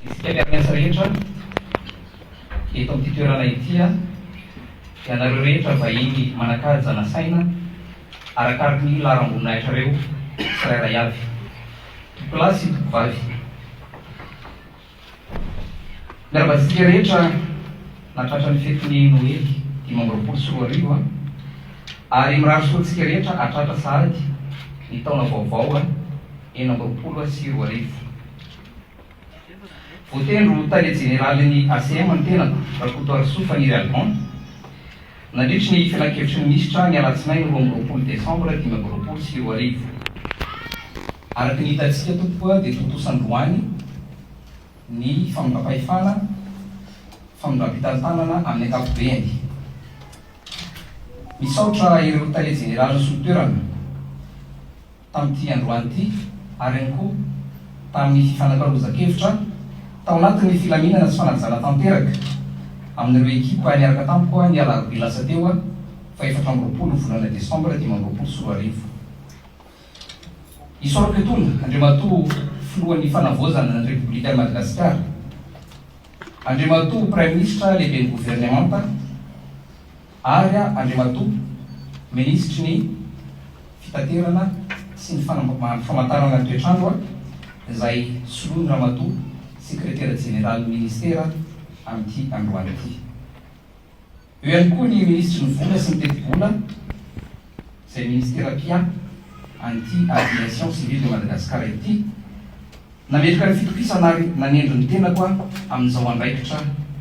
Misy kely amin'ny asa rehetra eto amin'ity toerana ity aho, dia anareo rehetra vahiny manan-kaja nasaina arakaraky ny laharam-boninahitrareo tsirairay avy, tompolahy sy tompovavy. Miarahaba antsika rehetra nahatratra ny fetin'ny Noely dimy amby roapolo sy roa arivo a! Ary mirary soa antsika rehetra hahatratra sahady ny taona vaovao enina amby roapolo sy roa arivo. Voatery ho tale jeneralin'ny ACM ny tenako, Rakotoarisoa Faniry Alban, nandritry ny filankevitry ny minisitra ny alatsinainy roa amby roapolo desambra dimy amby roapolo sy roa arivo. Araka ny hitantsika tompoko dia tontosa androany ny famindram-pahefana, famindram-pitantanana amin'ny ankapobeany. Misaotra ireo tale jeneralin'ny solon-toerana. tamin'ity androany ity ary ihany koa tamin'ny fifanakalozan-kevitra tao anatin'ny filaminana sy fanajana tanteraka amin'ireo ekipa niaraka tamiko ny alarobia lasa teo faha efatra amby roapolo volana desambra dimy amby roapolo sy roa arivo. Isaorako etona Andriamatoa Filohan'ny Fanavaozana ny Repoblikan'i Madagasikara, Andriamatoa Praiminisitra Lehiben'ny Governemanta, Ary aho, Andriamatoa Minisitry ny Fitaterana sy ny Famantarana ny Toetr'andro, izay soloin'i Ramatoa Sekretera Jeneralin'ny Minisitera amin'ity androany ity. Eo ihany koa ny Minisitry ny Vola sy ny Tetibola, izay Minisitera mpia an'ity Aviation Civile de Madagascar ity, nametraka ny fitokisana ary nanendry ny tenako aho amin'izao andraikitra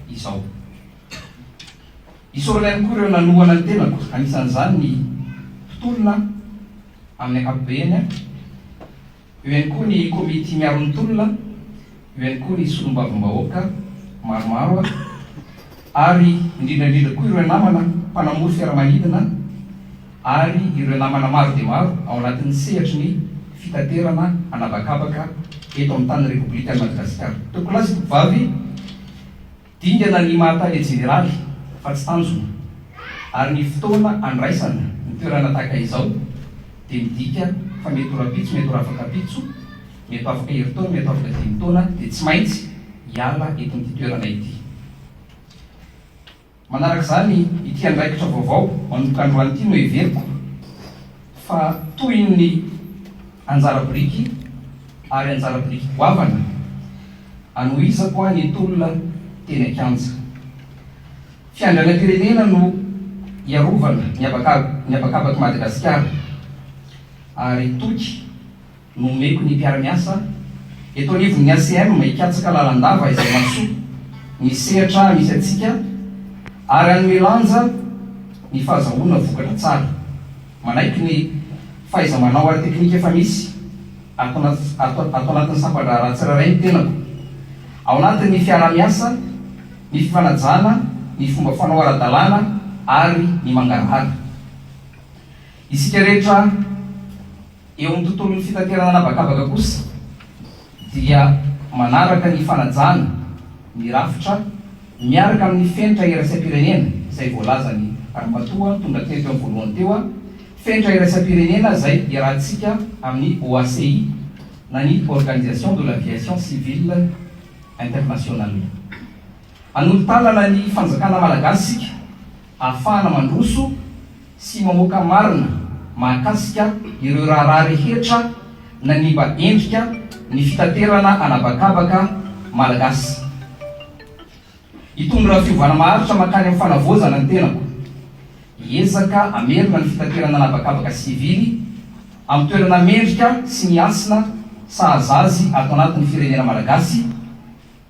izao. Isaorana ihany koa ireo nanohana ny tenako, anisan'izany ny mpitolona amin'ny ankapobeny, eo ihany koa ny komity miaro ny tolona, eo ihany koa ny solombavambahoaka maromaro ary indrindra indrindra koa ireo namana mpanamory fiaramanidina ary ireo namana maro dia maro ao anatin'ny sehatry ny fitaterana an'habakabaka eto amin'ny tany Repoblikan'i Madagasikara. Tompokolahy sy Tompovavy, Dingana ny maha Tale Jeneraly fa tsy tanjona, ary ny fotoana andraisana ny toerana tahaka izao dia midika fa mety ho rahampitso, mety ho rafakampitso, mety ho afaka herintaona, mety ho afaka dimy taona dia tsy maintsy hiala eto amin'ity toerana ity. Manaraka izany, ity andraikitra vaovao manomboka androany ity no heveriko, fa toy ny anjara biriky ary anjara biriky goavana anohizako ahy ny tolona teny an-kianja fiandrianam-pirenena no hiarovana ny habakabaky Madagasikara ary toky Nomeko ny mpiara-miasa eto anivon'ny ACM hikatsaka lalandava izay mahasoa ny sehatra misy antsika ary hanome lanja ny fahazahoana vokatra tsara. Manaiky ny fahaiza-manao ara-teknika efa misy ato anaty ato anatin'ny sampan-draharaha tsirairay ny tenako, ao anatin'ny fiaraha-miasa, ny fifanajana, ny fomba fanao ara-dalàna ary ny mangarahara. Isika rehetra. Eo amin'ny tontolon'ny fitaterana an'habakabaka kosa dia manaraka ny fanajana ny rafitra miaraka amin'ny fenitra iraisam-pirenena izay voalazan'i Ramatoa tonga teto eo voalohany teo a, fenitra iraisam-pirenena izay iarahantsika amin'ny OACI na ny Organisation de l'Aviation Civile Internationale. Hanolo-tanana ny fanjakana malagasy isika. Ahafahana mandroso sy mamoaka marina mahakasika ireo raharaha rehetra nanimba endrika ny fitaterana an'habakabaka malagasy. Hitondra fiovana maharitra mankany amin'ny fanavaozana ny tenako. Hiezaka hamerina ny fitaterana an'habakabaka sivily amin'ny toerana mendrika sy miasina sahaza azy ato anatin'ny firenena malagasy,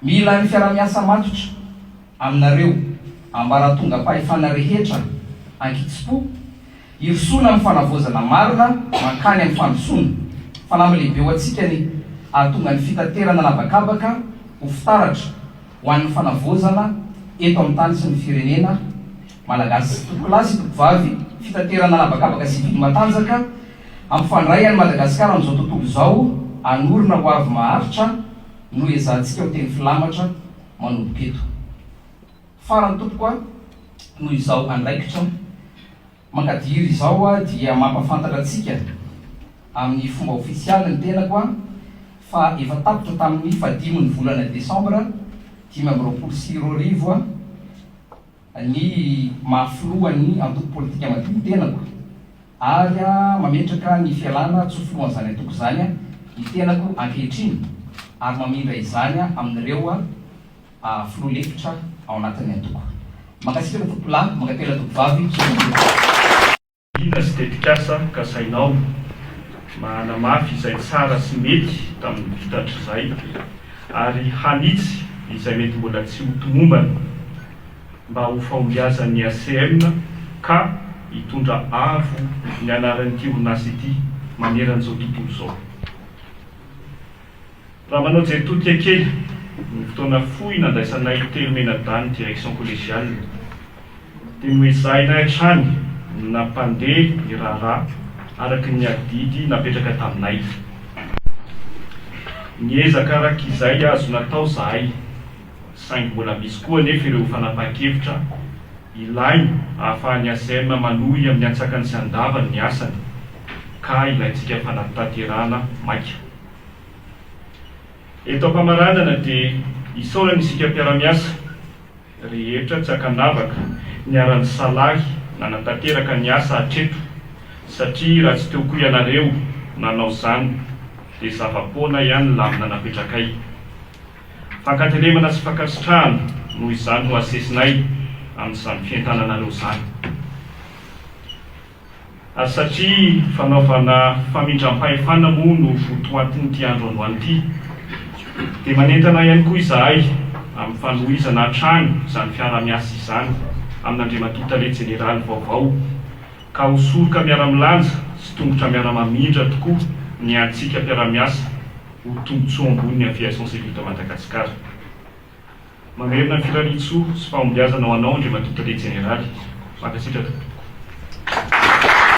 Mila ny fiarahamiasa matotra aminareo ambaratongam-pahefana rehetra ankitsipo hirosoana amin'ny fanavaozana marina mankany amin'ny fandrosoana. Fanamby lehibe ho antsika ny hahatonga ny fitaterana an'habakabaka ho fitaratra ho an'ny fanavaozana eto amin'ny tany sy ny firenena Malagasy. Tompokolahy sy tompovavy fitaterana an'habakabaka sivily matanjaka, hampifandray an'i Madagasikara amin'izao tontolo izao hanorina ho avy maharitra, Nohezahantsika miteny filamatra manomboka eto. Farany tompoko a, noho izao andraikitra mankadiry izao aho dia mampafantatra antsika amin'ny fomba ofisialy ny tenako a, fa efa tapitra tamin'ny fahadimy ny volana desambra dimy amby roapolo sy roa arivo a, ny maha filohan'ny antoko politika madio ny tenako ary mametraka ny fialana tsy ho filohan'izany antoko izany ny tenako ankehitriny ary mamindra izany amin'ireo filoha lefitra ao anatin'ny antoko. Mankasitraka Tompolahy, mankatelina Tompovavy, misaotra indrindra. Inona sy tetikasa kasainao mba hanamafy izay tsara sy mety tamin'ny vita hatrizay ary hanitsy izay mety mbola tsy ho tomombana mba ho fahombiazan'ny ACM ka hitondra avo ny anaran'ity orinasa ity maneran'izao tontolo izao? Raha manao jeritodika kely ny fotoana fohy nandraisanay telo mianadahy direction collégiale dia noezahinay hatrany ny nampandeha ny raharaha araka ny adidy napetraka taminay. Niezaka araka izay azo natao zahay saingy mbola misy koa anefa ireo fanapahan-kevitra ilaina ahafahan'ny ACM manohy amin'ny antsakany sy andavany ny asany ka ilaintsika fanatanterahana maika. Eto am-pamaranana dia isaorana isika mpiara-miasa rehetra tsy akan-davaka niara-nisalahy nanatanteraka ny asa hatreto satria raha tsy teo koa ianareo nanao izany dia zava-poana ihany ny lamina napetrakay. Fankatelemana sy fankasitrahana noho izany no asesinay amin'izany fientananareo izany. Ary satria fanaovana famindram-pahefana moa no votoatin'ity andro androany ity, dia manentana ihany koa izahay amin'ny fanohizana hatrany izany fiaraha-miasa izany amin'Andriamatoa Tale Jeneraly vaovao, ka ho soroka miara-milanja sy tongotra miara-mamindra tokoa ny antsika mpiara-miasa ho tombontsoa ambony ny Aviation Civile de Madagascar. Mamerina firarian-tsoa sy fahombiazana ho anao Andriamatoa Tale Jeneraly. Mankasitraka.